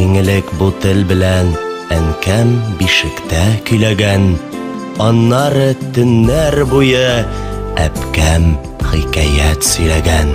Иң элек бу тел белән әнкәм бишектә көйләгән, аннары төннәр буе әпкәм хикәят сөйләгән.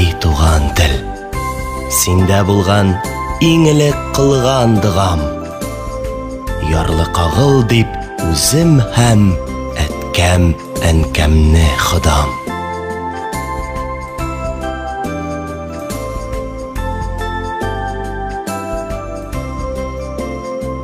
И туган тел, синдә булган иң элек кылган догам. Ярлы кагыл дип үзем һәм әткәм, әнкәмне ходам.